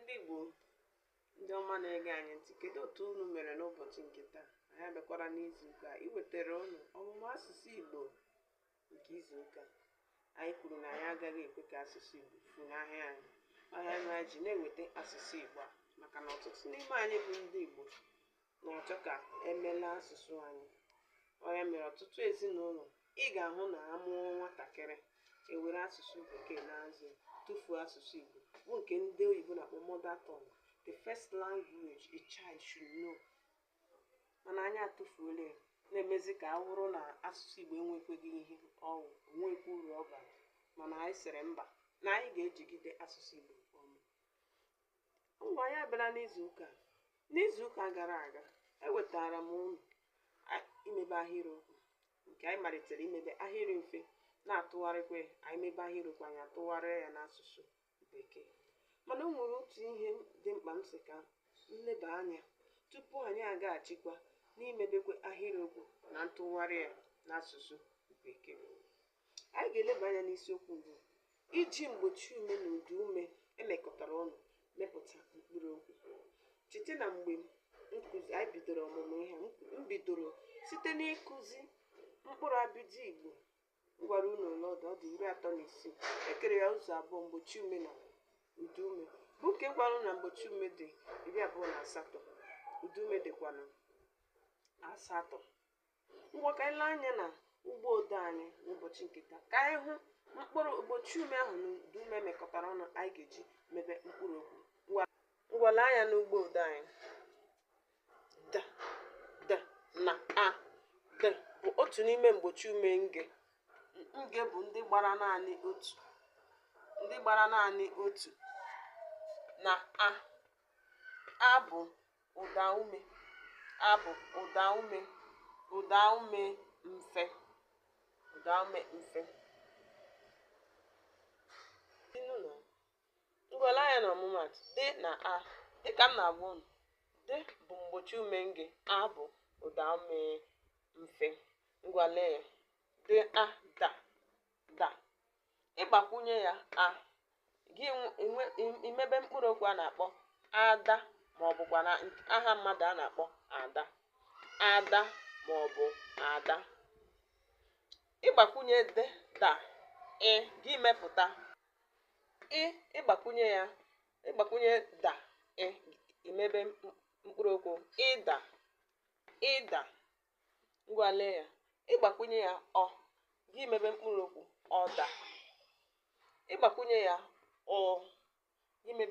ndị Igbo ndị ọma na-ege anyị ntị kedu otu unu mere n'ụbọchị nke taa anyị abịakwara n'izu ụka iwetara unu ọmụmụ asụsụ Igbo nke izu ụka anyị kwuru na anyị agaghị ekwe ka asụsụ Igbo funahịa anyị ọ ya mere anyị ji na-eweta asụsụ Igbo a maka na ọtụtụ n'ime anyị bụ ndị Igbo na-achọ ka emela asụsụ anyị ọ ya mere ọtụtụ ezinụlọ ị ga-ahụ na a mụọ nwatakịrị e were asụsụ bekee na-azụ tụfuo asụsụ Igbo bụ nke ndị oyibo na-akpọ mother tongue the first language a child should know mana anyị atụfuola ya na-emezi ka ọ wụrụ na asụsụ Igbo enwekweghị ihe ọ wụ o nweghịkwa uru ọ bara mana anyị sịrị mba na anyị ga-ejigide asụsụ Igbo ngwa anyị abịala n'izu ụka n'izu ụka gara aga ewetara m unu imebe ahịrịokwu nke anyị malitere imebe ahịrị mfe na-atụgharịkwa ya anyị mebe ahịrịokwu anyị atụgharịa ya n'asụsụ bekee mana o nwere otu ihe dị mkpa m sị ka m leba anya tupu anyị agaghachikwa n'imebekwa ahịrịokwu na ntụgharị ya n'asụsụ bekee anyị ga-eleba anya n'isiokwu bụ iji mgbochi ume na ụdaume e mekọtara ọnụ mepụta mkpụrụ okwu cheta na mgbe anyị bidoro ọmụmụ ihe a, m bidoro site n'ịkụzi mkpụrụ abịdị Igbo m gwara unu ole ọ dị ọ dị iri atọ na isii e kere ya ụzọ abụọ mgbochi ume na ụdaume bụ nke m gwara unu na mgbochi ume dị iri abụọ na asatọ ụdaume dịkwanụ asatọ ngwa ka anyị lee anya na ugbo odo anyị n'ụbọchị nke taa ka anyị hụ mkpụrụ mgbochi ume ahụ na ụdaume mekọtara ọnụ anyị ga-eji mebe mkpụrụ okwu ngwa lee anya n'ugbo odo anyị d d na a d bụ otu n'ime mgbochi ume nge nge bụ ndị gbara naanị otu na a a bụ Ụdaume a bụ ụdaume ụdaume mfe ụdaume mfe ngwa lee anya na ọmụmaatụ d na a dịka m na-agwa unu d bụ mgbochi ume nge a bụ ụdaume mfe ngwa lee ya d a da da ị gbakwunye ya a gị imebe mkpụrụ okwu a na-akpọ ada ma ọ bụkwanụ aha mmadụ a na-akpọ ada ada ma ọ bụ ada ị gbakwunye da ị gị mepụta ị ị gbakwunye ya ị gbakwunye da ị i mebe mkpụrụ okwu ịda ịda ngwa lee ya ị gbakwunye ya ọ gị emebe mkpụrụ okwu ọda ị gbakwunye ya ọ gị emebe